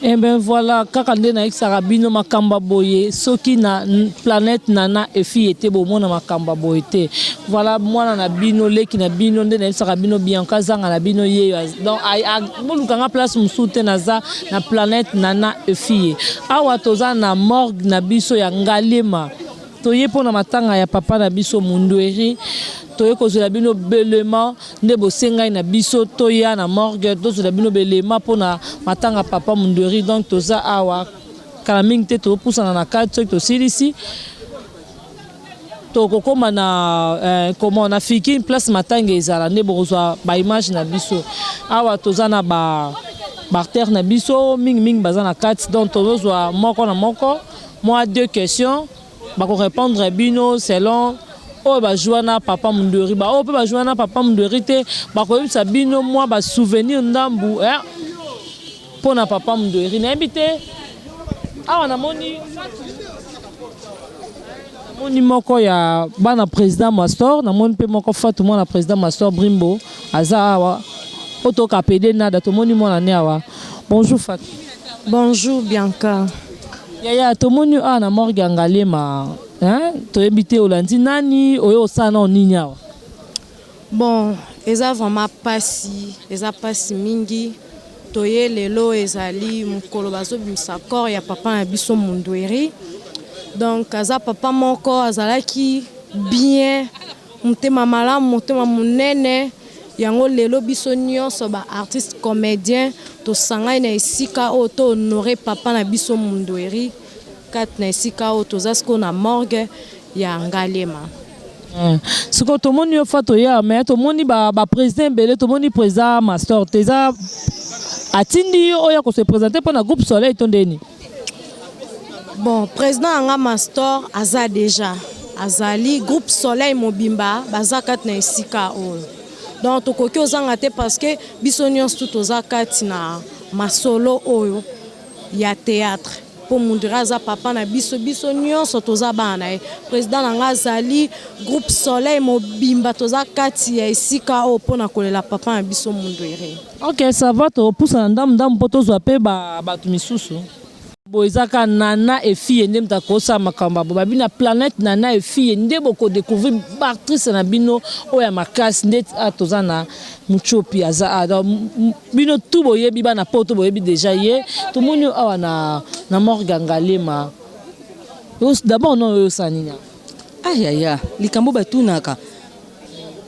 Eh ben voilà kaka nde nayebisaka bino makambo ya boye soki na planète nana efi ete bomona makambo ya boye te voilà mwana na bino leki na bino nde nayebisaka bino bianca azanga na bino yeyo az- donc ay- a- boluka nga place mosusu te naza na planète nana efi ye awa toza na morgue na biso ya ngaliema Toye pona matanga ya papa na biso Mundueri toye kozwela bino belema nde bosengai na biso toya na morgue tozwela bino belema pona matanga papa Mundueri donc toza awa kala mingi te topusana na kati soki tosilisi tokokoma na eh, comment na fiki place matanga ezala nde bokozwa ba image na biso awa toza na ba bartère na biso mingi mingi baza na kati donc tozozwa moko na moko Mua deux questions bako repondre bino selon oyo ba joua na papa mundori ba oyo pe ba joua na papa mundori te bako yebisa bino mua ba souvenir ndambu eh pona papa mundori na yebi te awa na moni moni moko ya bana president mastor na moni pe moko fatu mwana president mastor brimbo aza awa otoka pede nada tomoni mwana ne awa bonjour fatu Bonjour Bianca. Yaya tomoni yo awa na morgue ya Ngaliema hein toyebi te olandi nani oye kosala nao nini awa? Bon eza vraiment pasi eza pasi mingi toye lelo ezali mokolo bazobimisa corps ya papa na biso Mundueri donc aza papa moko azalaki bien Motema malamu, motema monene, yango lelo biso nionso ba artistes comediens tosangani na esika oyo to honorer papa na biso Mundueri kati na esika oyo toza sikoyo na morgue ya Ngaliema. Eeh sikoyo tomoni yo fat oya mais tomoni ba president ebele tomoni president mastor te eza atindi yo oya ko se presenter pona groupe soleil to nde nini? Bon, president na nga Mastor aza deja, azali groupe Soleil mobimba baza kati na esika oyo, donc tokoki ozanga te parce que biso nyonso tout toza kati na masolo oyo ya theatre mpo Mundira aza papa na biso, biso nyonso toza bana na ye. President na nga azali groupe Soleil mobimba, toza kati ya esika oyo mpo na kolela papa na biso Mundiri. Ok ça va topusana ndambu ndambu mpo tozwa mpe bato misusu. Boye eza kaka Nana et fille nde moto akosala makambo ya boye babi na planète Nana et fille nde boko decouvrir ba actrices na bino oyo ya makasi ndeti awa toza na Mutshopi aza awa donc bino tout boyebi bana poto boyebi dejà ye tomoni yo awa na na morgue ya Ngaliema d'abord non oyosala nini awa? Ah yaya likambo batunaka.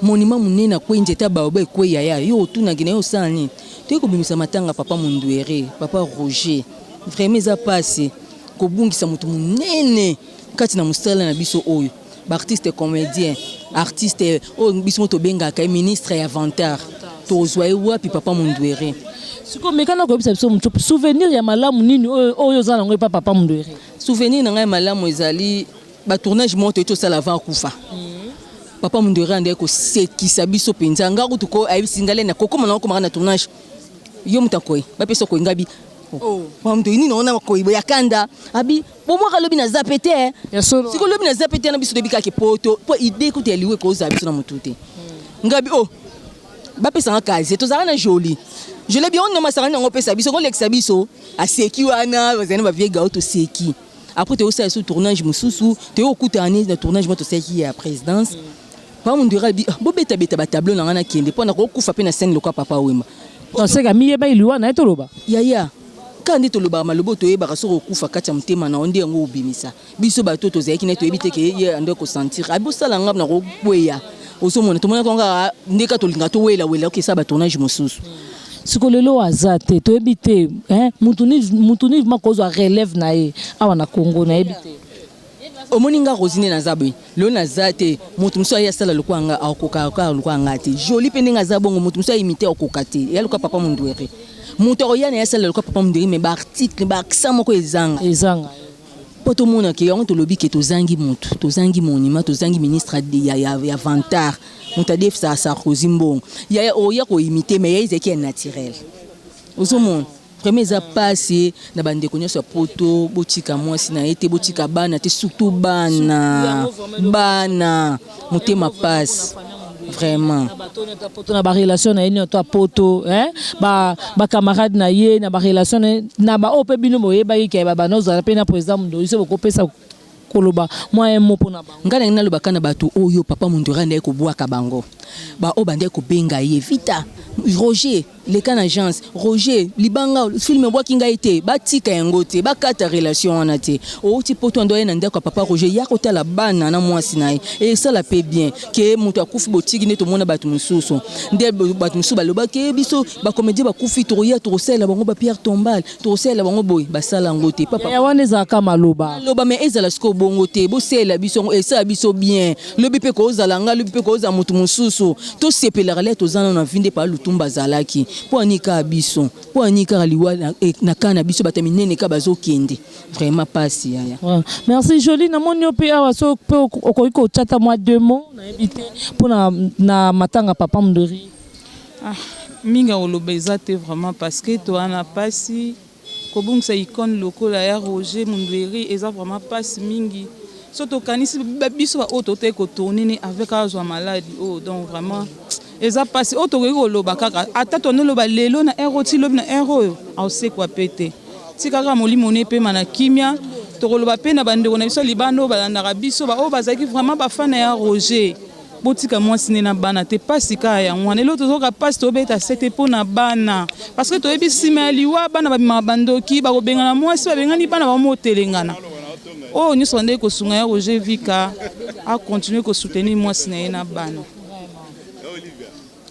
Monument munene a kweyi nzete ya baobab ekweyi yaya yo otunaki naye osala nini toye kobimisa matanga ya papa munduere papa Roger vraiment eza pasi kobungisa mutu munene kati na musala na biso oyo ba artiste comedien artiste oyo biso mo tobengaka ye ministre ya vantard tozwa ye wapi papa munduere Siko meka na koyebisa biso mutu souvenir ya malamu nini oyo oyo oza nango epa papa munduere. Souvenir na ngai ya malamu ezali Ba tournage moko toyei tosala avant akufa. Papa Mundere andaki kosekisa biso mpenza. Nga kutu ko ayebisi nga lene kokoma nango komaka na tournage. Yo moto akoyi bapesa okoyi nga bi Papa Mundere nini ona makoyi boye ya kanda abi bomwaka lobi naza mpe te eh. Ya solo. Sikoyo lobi naza mpe te na biso toyebi kaka ke poto mpo idee kutu ya liwa ekozala biso na motu te. Nga bi oh bapesa nga casier tozalaka na Jolie. Jolie abi oyo nde masanga nini yango opesa biso kolekisa biso. Aseki wana bazali na ba vieux gaoto toseki. après toyosala so tournage mosusu toyo kokutana ne na tournage mwa tosalaki ya présidence papa mondura alobi "Ah, bobetabeta batableau na ngai nakende mpo nakokufa mpe na scène lokola papa wemba Tonseka miyeba iliwa na ye toloba. yaya kaka nde tolobaka maloba oyo toyebaka soki okufa kati ya motema na yo nde yango obimisa biso bato oyo tozalaki naye toyebi te ke ye ande kosentir abi osala nga nakokweya ozomona tomonaka yango kaka nde kaka tolingaka towelawela okesa batournage mosusu siko lelo aza te toyebi te hein mutu ni mutu ni ma kozwa relève na ye awa na Congo na yebi te omoni nga rosi nde naza boye lelo naza te moto mosusu aye asala lokola nga akoka kaka lokola nga te joli mpe ndenge aza bongo moto mosusu ayimite akoka te ya lokola papa mondwere moto akoya na ye asala lokola papa mondwere me baarticle baaccent moko ezanga ezanga po tomona ke yango tolobi ke tozangi mutu tozangi monument tozangi ministre ya, ya, ya vantard moto adefisaka sarkozy mbongo yaya oya koimite me yaya ezalaki ya naturel ozomona vraiment eza pasi na bandeko nyonso ya poto botika mwasi na ye te botika bana te surtout bana bana motema pasi vraiment poto na ba relation na ye nini to poto hein ba ba camarade na ye na ba relation na ba ope bino boyebaki ke ba bana ozala pe na president mundo iso bokopesa koloba mwa un mot pona bango ngai nangi nalobaka na bato oyo papa mondori andaki kobwaka bango baoyo bandaki kobenga ye vita roger Leka na agence Roger libanga film ebwaki ngai te batika yango te bakata relation wana te outi poto ando aye na ndako ya papa Roger ya kotala bana na mwasi na ye esala pe bien ke moto akufi botiki nde tomona bato mosusu nde bato mosusu balobaki biso bakomedie bakufi tokoya tokosalela bango ba pierre tombale Tokosalela bango boye basala yango te papa. Yaya wana ezalaka maloba. Maloba mais ezala sikoyo bongo te. Bosalela biso yango esala biso bien. Lobi mpe kozala nga lobi mpe kozala moto mosusu. Tosepelaka lia toza nano na vie nde papa Lutumba azalaki. Mpo ya nini kaka biso? Mpo ya nini kaka liwa na camp na biso bato ya minene kaka bazokende? Vraiment pasi yaya. Merci Jolie namoni yo mpe awa soki mpe okoki kotya ata mwa deux mots nayebi te mpo na matanga papa Mdori. Ah mingi ya koloba eza te vraiment parce que toa na pasi kobungisa icone lokola ya Roger Mundueri eza vraiment pasi mingi so tokanisi biso ba oyo totaki kotourne ne avec azwa maladi oyo oh, donc vraiment eza pasi oyo tokoki koloba kaka ata tonoloba lelo na ero ti lobi na ero oyo aosekwa pe te tikaka molimo ne epema na kimia tokoloba mpe na bandeko na biso libanda oyo balandaka biso baoyo bazalaki vraiment bafana ya roger Botika mwasi ne na bana te pasi ka yango wana eloko tozoka pasi tobeta sete mpo na bana parce que toyebi nsima ya liwa bana babimaka bandoki bakobengana mwasi babengani bana bango motelengana oyo oh, nyonso bandeki kosunga ya roger vika acontinue kosoutenir mwasi na ye na bana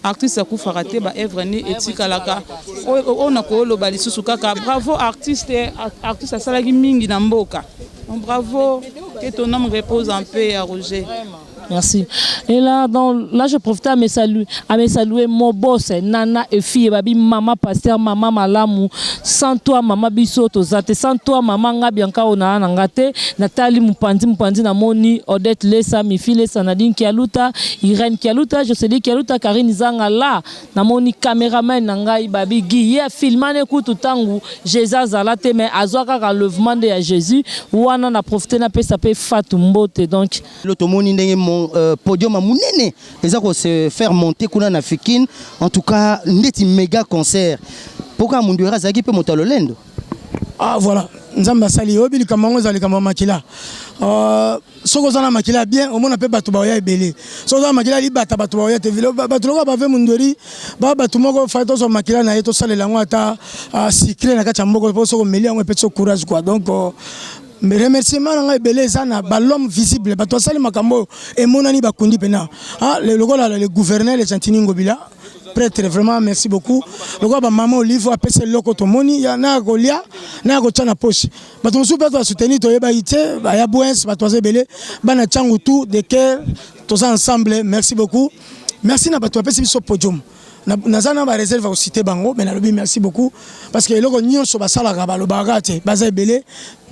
Artiste akufaka te ba œuvre ni etikalaka oyo na koloba lisusu kaka bravo artiste artiste asalaki mingi na mboka bravo que ton homme repose en paix ya Roger Merci. Et là, dans, là, je profite à me saluer, à me saluer mon boss, Nana et fille, babi, maman pasteur, maman malamu, sans toi, maman biso, tozate, sans toi, maman nga bianca ona nangate, Nathalie Mupandi, Mupandi na moni, Odette Lessa, Mifi Lessa, Nadine Kialuta, Irène Kialuta, Jocelyne Kialuta, Carine Zanga la, namoni cameraman na ngai Babi Guy, ye afilma ne kutu tangu Jesus azala te mais azua kaka enlevement nde ya Jesus, wana na profiter napesa pe Fatou mbote donc. Lelo tomoni ndenge podium ya munene eza ko se faire monter kuna na Fikin, en tout cas ndeti mega concert, po kaka Munduera azalaki pe moto ya lolendo. Ah voilà, Nzambe asali oyebi likambo yango ezali likambo ya makila. Euh, soki oza na makila bien omona mpe bato baoya ebele. Soki oza na makila libata bato baoya te vile bato lokola bave mundweri ba bato moko fai tozwa makila na ye tosalela yango ata uh, sucre na kati ya mboko mpo soki omeli yango epesi courage quoi donc uh, remerciement na ngai ebele eza na balome visible bato basali makambo oyo emonani bakundi mpena ah, lokola le gouverneur le gentini ngobila pretre vraiment merci beaucoup lokola bamama olive apesa eloko tomoni naya kolia naya kotya na poche bato mosusu mpe basoutenir toyebaki te baya bwens bato baza ebele bana cangu tout de ker toza ensemble merci beaucoup merci na bato bapesi biso podium naza na bareserve ya kosite bango me nalobi merci beaucoup parce que eloko nyonso basalaka balobaka te baza ebele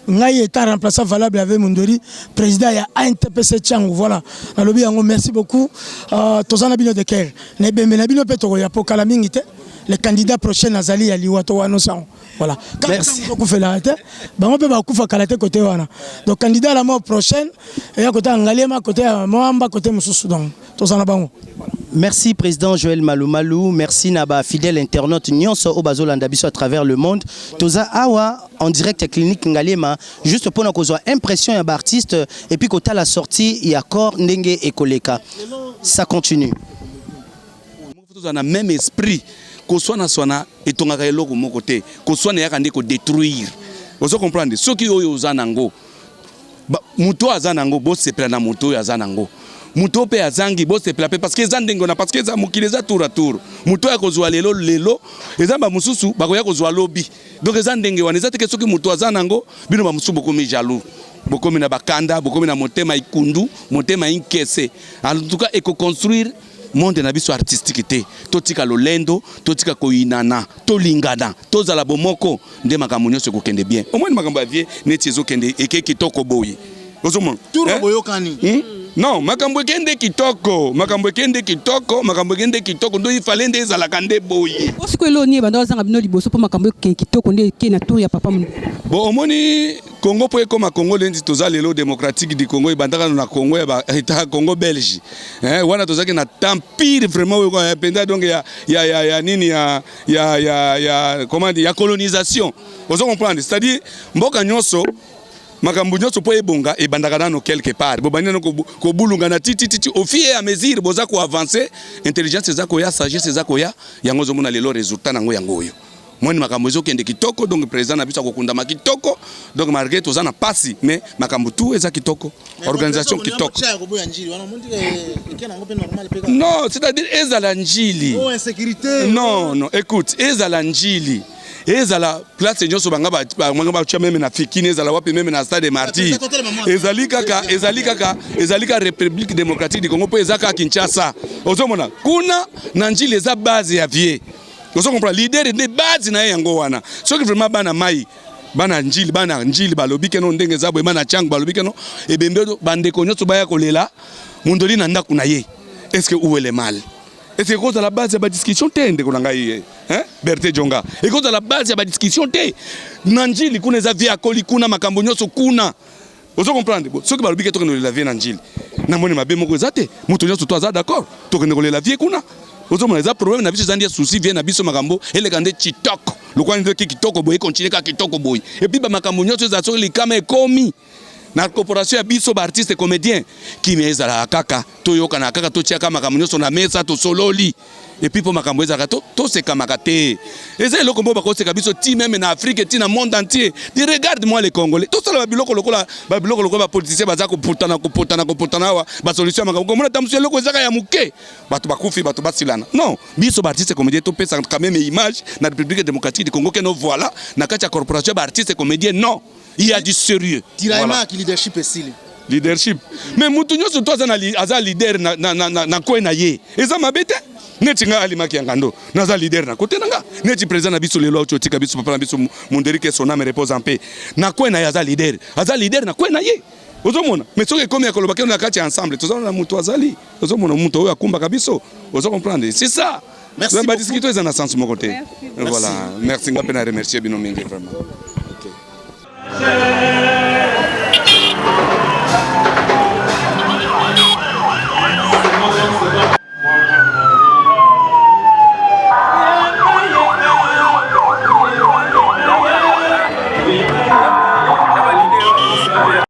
Ngai etant remplaçant valable avec Mundori, president ya ANTPC Tshangu. Voilà, nalobi yango merci beaucoup. Uh, toza na bino de cœur. Na ebembe na bino pe tokoya po kala mingi te. Le candidat prochain azali ya liwa to wano sango. Voilà. Merci. Kokufela te. Bango pe bakufa kala te côté wana. Donc candidat la mort prochaine, ya kota Ngaliema, côté Moamba, côté Mususu donc. tozala bango Merci président Joël Malumalu, merci na ba fidèles internautes nyonso au bazolanda biso à travers le monde. Toza awa en direct à clinique Ngaliema juste pour na kozwa impression ya ba artiste et puis kota la sortie ya corps ndenge ekoleka. Ça continue. Faut tozala na meme esprit. Koswana swana etongaka eloko moko te. Koswana eyaka nde ko detruire. Ozo comprendre? Soki oyo oza nango moto aza nango bosepela na moto oyo aza nango. Moto oyo pe azangi bosepela pe parce que eza ndenge wana parce que eza mokili eza tour à tour. Moto ya kozwa lelo lelo eza ba mosusu bakoya kozwa lobi. Donc eza ndenge wana eza te ke soki moto aza nango bino ba mosusu bokomi jaloux. Bokomi na bakanda, bokomi na motema ikundu, motema inkese. En tout cas eko construire monde na biso artistique te totika lolendo totika koyinana tolingana tozala bomoko nde makambo nyonso ekokende bien omoni makambo ya vie neti ezokende eke kitoko boye ozomona eh? boyokani hmm? non makambo ekende kitoko makambo ekende kitoko makambo ekende kitoko ndo ifale nde ezalaka nde boye osikoyo eloni ebanda ozanga bino liboso mpo makambo ekende kitoko nde ekei na tour ya papa bo omoni Congo po ekoma Congo lendi toza lelo démocratique du Congo ebandaka na Congo ya ba eta Congo belge eh wana tozaki na temps pire vraiment oyo ya penda donc ya ya ya, ya nini ya ya ya ya comment dire ya colonisation ozo comprendre c'est à dire mboka nyonso makambo nyonso mpo ebonga ebandaka nano quelque part bobandi nano kobulungana titititi au fur et à mesure boza koavance intelligence eza koya sagesse eza koya yango ozomona lelo résultat nango yango oyo Moni makambo ezokende kitoko donc president na biso akokundama kitoko donc malgré toza na pasi mais makambo tout eza kitoko organisation kitoko non c'est-à-dire ezala njili oh, non non écoute ezala njili ezala place nyonso banga bamanga batya meme na fikini ezala wapi meme na stade martyr ezali kaka ezali kaka ezali kaka république démocratique du congo mpo eza kaka kinshasa ozomona kuna na njili eza base ya vie ozo comprendre leader nde base na ye yango wana soki vraiment bana mai bana njili bana njili balobi keno ndenge eza boye bana changu balobi keno ebembe bandeko nyonso baya kolela mondoli na ndako na ye est ce que où est le mal ese ekozala base ya badiscussion te ndeko na ngai eh, eh, berte jonga ekozala base ya badiscussion te na njili kuna eza vie akoli kuna makambo nyonso kuna ozo comprendre bo soki balobi ke tokende kolela vie na njili na moni mabe moko eza te moto nyonso to aza d'accord tokende kolela vie kuna ozomona eza problème na biso eza nde souci vie na biso makambo eleka nde kitoko lokola ndoki kitoko boye continue kaka kitoko boye epuis bamakambo nyonso ezala soki likama ekomi na corporation ya biso baartiste comédien kimia ezalaka kaka toyokana kaka totiaka makambo nyonso na mesa tosololi epuis mpo makambo ezalaka tosekamaka te eza eloko moko bakoseka biso ti meme na afrike ti na monde entier de regarde moi le congolais tosala babiloko lokola babiloko lokola bapoliticien baza koputana kopotana kopotana awa basolution ya makambo komona tamosu eloko ezaka ya moke bato bakufi bato basilana non biso baartiste comédien topesa quand meme image na république démocratique du congo keno voilà na kati ya corporation ya baartiste comédien non il y a du sérieux tiraillement voilà. ya leadership esili leadership mais mutu nyonso to aza na aza leader na na na, na coin na ye eza mabe te neti ngai alimaki ya ngando naza leader na kote na nga neti président na biso lelo auti otika biso papa na biso munderike son ame repose en paix na coin na ye aza leader aza leader na coin na ye ozomona mais soki ekomi ya koloba keno na kati ya ensemble tozana na mutu azali Ozo mona muto oyo akumbaka biso, ozo comprendre? C'est ça. Merci beaucoup. Ba discuter eza na sens moko te. Voilà. Merci ngape na remercier bino mingi vraiment.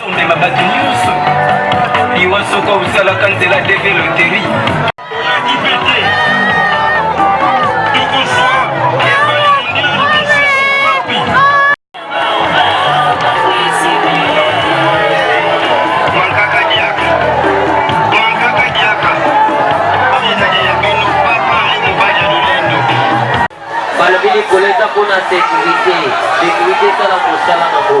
Omema bato nyonso liwa soko osalaka nzela deve loteri Balobi likolo eza mpo na sekurite, sekurite esala mosala nango.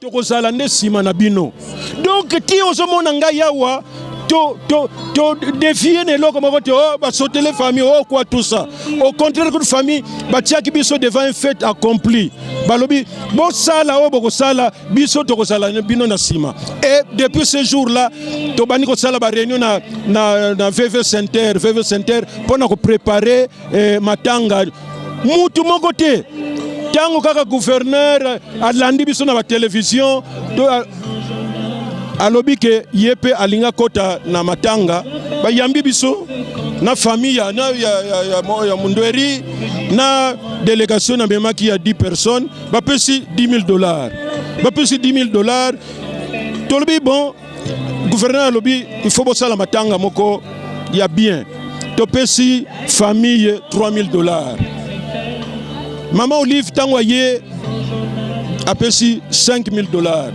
tokozala nde nsima na bino donk ti ozomona ngai yawa to, to, to defie na eloko moko te oh, basotele famille oh, quoi tout ça au contraire kutu famille batiaki biso devant un fait accompli balobi bosala oyo oh, bokosala biso tokozala bino na nsima et depuis ce jour là tobandi kosala baréunion na, na, na vv center vv center mpo na koprépare eh, matanga mutu moko te ntango kaka gouverneur alandi biso na batelevision to alobi ke ye mpe alinga kota na matanga bayambi biso na famille ya, ya, ya, ya, ya mundweri na delegation namemaki ya 10 personnes bapesi 10 000 dollars bapesi 10 000 dollars tolobi bon gouverneur alobi il faut bosala matanga moko ya bien topesi famille 3000 dollars mama olive ntango aye apesi 5000 dollars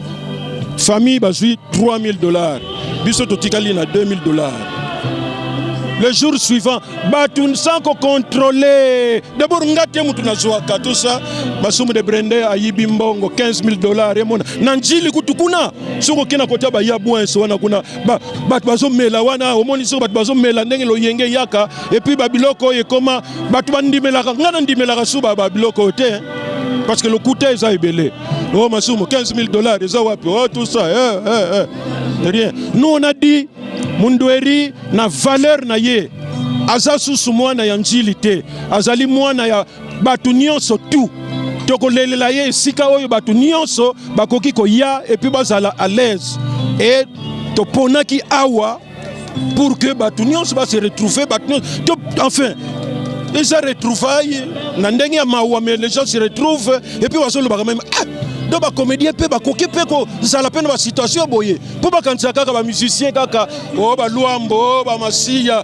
famille bazwi 3000 dollars biso totikali na 2000 dollars le jour suivant bato sans kocontrole dabord nga te moto nazwaka tosa masumu de brende ayibi mbongo 15 000 dollars emona na njili kutu kuna soki okenda kotya baya bwins wana kuna bato bazomela wana omoni soki bato bazomela ndenge loyenge eyaka epuis babiloko oyo ekoma bato bandimelaka ngai nandimelaka suba babiloko oyo te parce que lokuta eza ebele o oh, masumu 15 000 dollars eza wapi o oh, tout ça eh, eh, eh. rien nous on a dit mundueri na valeur na ye aza susu mwana ya njili te azali mwana ya bato nyonso tu tokolelela ye esika oyo bato nyonso bakoki koya epuis bazala à l'aise e toponaki awa pour que bato nyonso base retrouve bato nyonso enfin eza retrouvaille na ndenge ya mawa mais les gens se retrouvent epuis bazolobaka meme ah, donc bacomédien mpe bakoki mpe kozala mpe na basituation boye mpo bakanisa kaka bamusicien kaka o oh, baluambo oh, bamasiya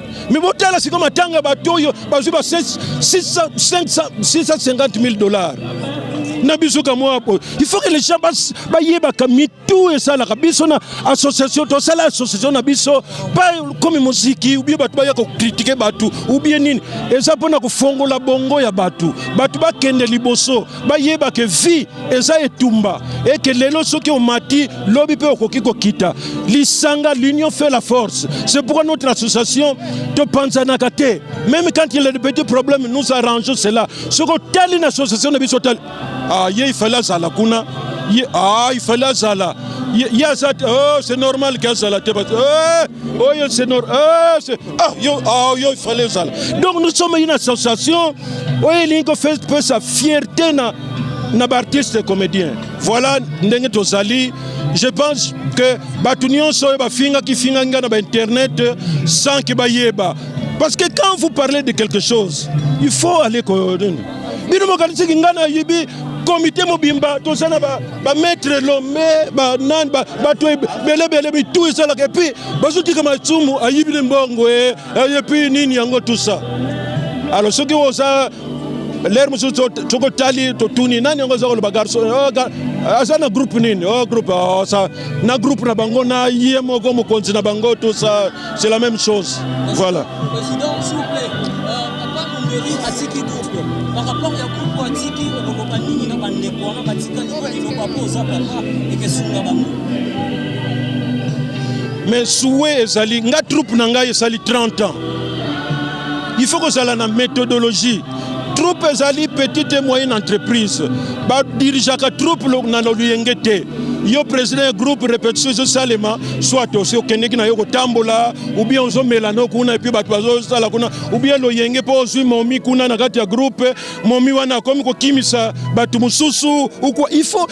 Mais bon, là, c'est comme un temps à bateau, parce que 650 000 dollars. na biso kamwa po il faut que les gens bayebaka mitu esalaka biso na association tosala association na biso pa komi moziki ubie bato baya kokritike bato ubie nini eza mpona kofongola bongo ya bato bato bakende liboso bayeba ke vie eza etumba et que lelo soki omati lobi pe okoki kokita lisanga l'union fait la force c'est pourquoi notre association topanzanaka te même quand il y a des petits problèmes nous arrangeons cela soki otali na association na biso otali ah, ye ifale azala kuna ye ah, ifale azala ye aza te oh, c'est normal ke azala te eh, oyo c'est normal eh, ah, yo, ah, yo ifale ezala donc nous sommes une association oyo elingi kopesa fierte na na baartiste comédien voilà ndenge tozali je pense que bato nyonso oyo bafingaki fingaki ngai na bainternet sans ke bayeba parce que quand vous parlez de quelque chose il faut aller koyodeni bino mokanisiki ngai nayebi komite mobimba toza na bamaître lome banani bato ebelebele mitu esalaka epuis bazotika masumu ayibili mbongo e Eh, epuis nini yango tusa alo soki oza lere mosusu tokotali totuni nani yango aza koloba garso oh, eh, aza na groupe nini o oh, groupe oh, sa na groupe na bango na ye moko mokonzi na bango tout ça c'est la même chose voilà euh, Mais souhait ezali nga troupe na ngai esali 30 ans. Il faut kozala na methodologie. Troupe ezali petite et moyenne entreprise. Ba dirigeaka troupe na lolenge te. Yo président ya groupe repetition ezosalema soit osi okendeki na yo kotambola ou bien ozomela no kuna epuis bato bazosala kuna ou bien loyenge mpo ozwi momi kuna na kati ya groupe momi wana akomi kokimisa bato mosusu ukwa il faut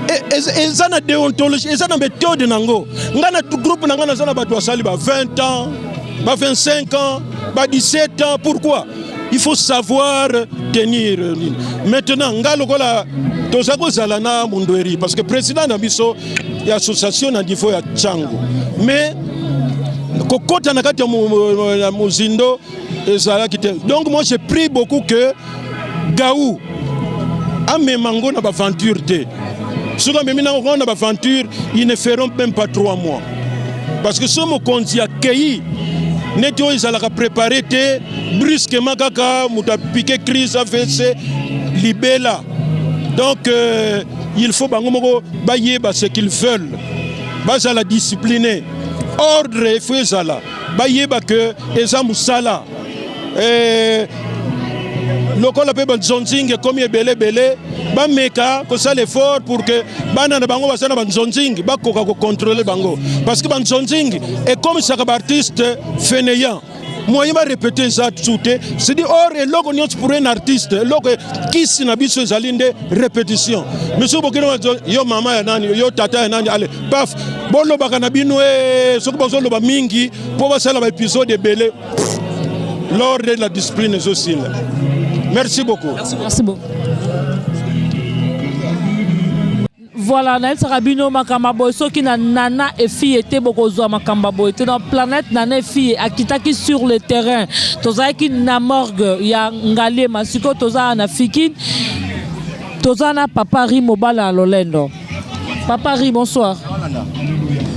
E, eza na deontologie eza na methode na yango ngai na groupe na ngai naza na bato basali ba 20 ans ba 25 ans ba 17 ans pourquoi il faut savoir tenir maintenant ngai lokola toza kozala na mundueri parce que président na biso ya association na niveau ya chango mais kokota na kati ya mozindo ezalaki te donc moi j'ai pris beaucoup que gaou amema ngo na baventure te soki amemi nango ngo na baventure ils ne feront même pas trois mois parce que so mokonzi akei neti oyo ezalaka prépare te brusquement kaka moto apike crise avc libela donc euh, il faut bango moko bayeba ce qu'ils veulent bazala discipline ordre efo ezala bayeba ke eza mosala eh, lokola mpe banzonzing ekomi ebele ebele bameka kosala effort pour que bana na bango baza na banzonzing bakoka kocontrole bango parce que banzonzing ekomisaka baartiste fainéant moyen barepete eza tu te sidi or eloko nyonso pour un artiste eloko kisi na biso ezali nde repetition misusu bokino yo mama ya nani yo tata ya nani ale Paf, bolobaka na bino eh, soki bazoloba mingi mpo basala ba episode ebele l'ordre de la discipline ezosila. Merci beaucoup. Merci beaucoup. Merci beaucoup. voilà nayebisaka bino makambo boye soki na nana efille te bokozwa makambo boye te na planète nana efille akitaki sur le terrain tozalaki na morgue ya ngaliema sikoyo tozala na fikine toza na papa ri mobala ya lolendo Papa Ri, bonsoir.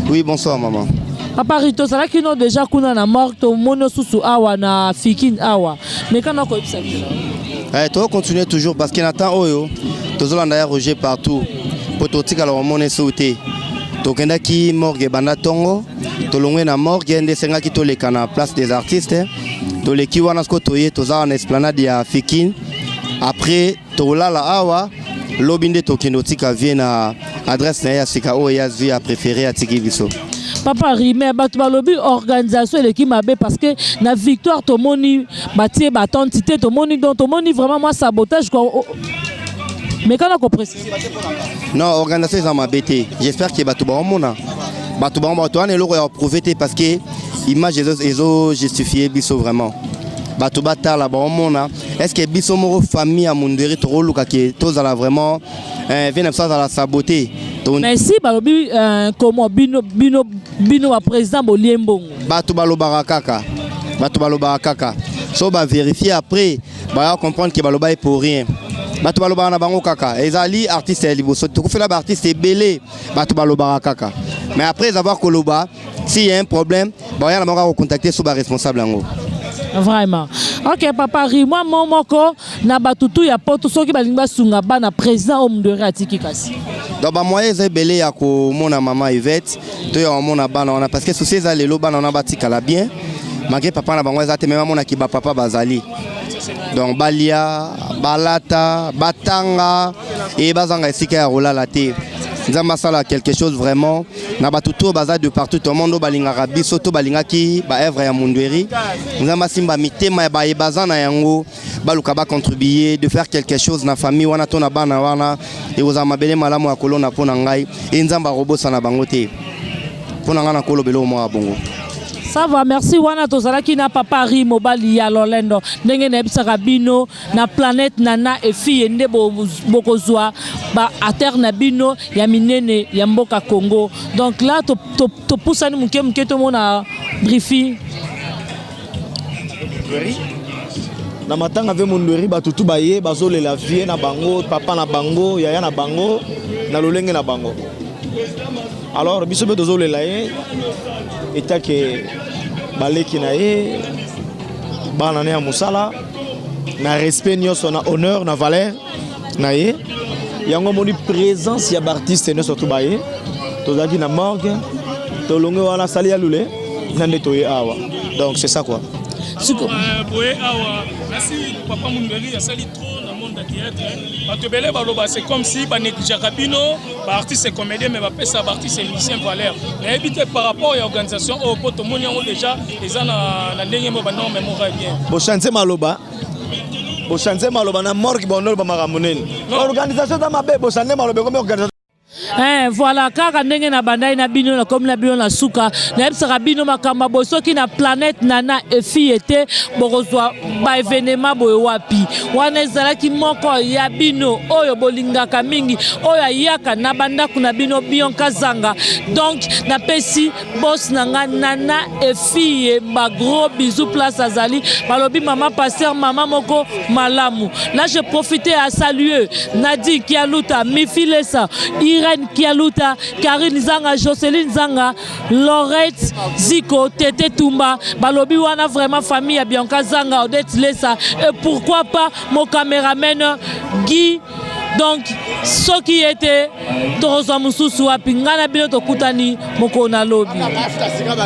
Oui, bonsoir maman. Papa Ri, tozalaki no déjà kuna na morgue tomoni susu awa na Fikin awa. Mais kana koyebisa biso. Eh, to continuer toujours parce que na temps oyo tozolanda ya Roger partout. Po totikala omone sou te. Tokendaki morgue banda tongo, tolongwe na morgue nde esengaki toleka na place des artistes. Toleki wana siko toye toza na esplanade ya Fikin. Après Tokolala awa lobi nde tokende otika vie na adresse na ye ya sika oyo ya zwi ya préféré atiki biso papa rime bato balobi organisation eleki mabe parce que na victoire tomoni batie batante te tomoni donc tomoni vraiment mwa sabotage kua mekana koprécise non organisation eza mabe te j'espère ke bato baomona bato bango bato wana eloko ya koprouve te parce que image ezo justifie biso vraiment bato batala baomona est ce que biso moko famille ya mundweri tokoluka ke tozala vraiment eh, vie na biso azala sabote mais si balobi euh, comment bino bino bino ba président bolie mbongo bato balobaka kaka bato balobaka kaka so baverifie après baya comprendre ke balobaki pour rien bato balobaka na bango kaka ezali artiste ya liboso tokufela baartiste ebele bato balobaka kaka mais après avoir koloba si y a un problème baoya na bango akocontacte so baresponsable yango vraiment ok papa rimwa mo moko na bato tu ya poto soki balingi basunga bana président oyo mundere atiki kasi donc bamoyen eza ebele ya komona mama ivete to ya komona bana wana parce que souci eza lelo bana wana batikala bien malgré papa na bango eza te me bamonaki bapapa bazali donc balia balata batanga e bazanga esika ya kolala te nzambe asala quelque chose vraiment na bato to baza de partout au monde balingaka biso to balingaki baœuvre ya mundueri nzambe asimba mitema ya baye baza na yango baluka bacontribue de faire quelque chose na famille wana to na bana wana ekozala mabele malamu ya kolona mpo na ngai e nzambe akobosana bango te mpo na ngai nakolobela eloko moko ya bongo sava merci wana tozalaki na papa ri mobali ya lolendo ndenge nayebisaka bino na planète nana et fille nde bokozwa ba acteurs na bino ya minene ya mboka Congo donc là topusani to, to moke moke tomona briefing na matanga ve mondweri bato tu baye bazolela vie na bango papa na bango yaya na bango na lolenge na bango alors biso mpe tozolela ye etake baleki na ye bana ne ya mosala na respect nioso na honneur na valeur na ye yango moni présence ya baartiste nioso to baye tozalaki na morgue tolonge wana sali ya lule na nde toye awa donc c'est ça quoi siko euh, boye awa nasi papa mundeli asali trop na monde ya théâtre bato ebele baloba c'est comme si baneglijaka bino baartiste comédien mais bapesa baartiste musicien valeur nayebi te par rapport ya organisation oyo oh, mpo tomoni yango déjà Eza na na ndenge mo ba norme mo va bien. Bo change maloba. Bo change maloba na morgue ba ndolo ba makambo nini. Organisation ta mabe bo change maloba comme organisation Eh, voilà kaka ndenge na bandai na bino na komi na bino na suka nayebisaka bino makambo boye soki na planète nana efi ete bokozwa ba evenema boye wapi wana ezalaki moko ya bino oyo bolingaka mingi oyo ayaka na bandako na bino bionka zanga donc napesi boss na nga nana efille ba gros bisous place azali balobi mama pasteur mama moko malamu là je profite à saluer Nadine Kialuta Mifilesa Irène Kialuta Karine Zanga Jocelyn Zanga Laurette Ziko Tete Tumba balobi wana vraiment famille ya Bianca Zanga Odette Lesa et pourquoi pas mon caméraman Guy donc soki ete Tokozwa mosusu wapi? Ngai na bino tokutani mokolo na lobi.